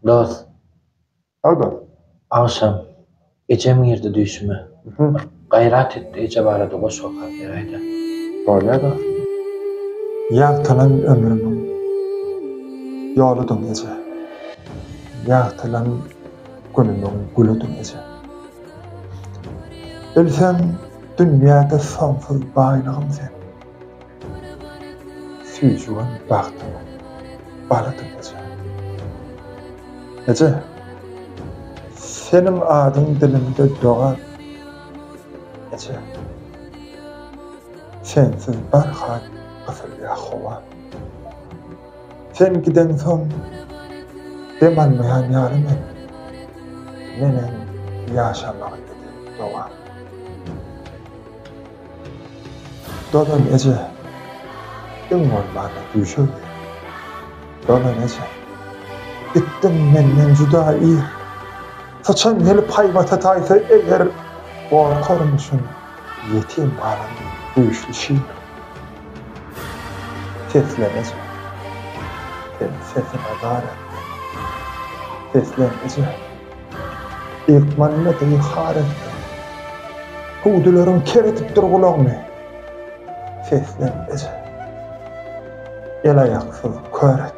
Dos. Al dos. Agşam ejem girdi düýşüme. Bir gaýrat etdi eje barada goşgy okap beräýdä. Bolýa dos. Ýagtylan ömrümiň ýoludyň eje. Ýagtylan günümiň gülüdiň eje. Bilseň dünýäde soňsuz baýlygym sen. Süýjügim bagtymyň balydy eje. Eje, seniň adyň dilimde dogan. Eje, sensiz barha gysylýar howa. Sen gideňsoň dem almaýan ýaly men, menem ýaşamagy dileýin dogan. Dogan eje, iň bolmanda düýşe gir. Dogan eje, itdiň menden juda ir. Syçan gelip haýbata taýsa eger, gorkaryn şuny ýetim galan düýşli şir. Seslen eje, sen sesiňe gar etme. Seslen eje. Ilkman mudy har etdi. Huduleriň ker edip dur gulagyny. Seslen, eje. El-aýaksyz kör et.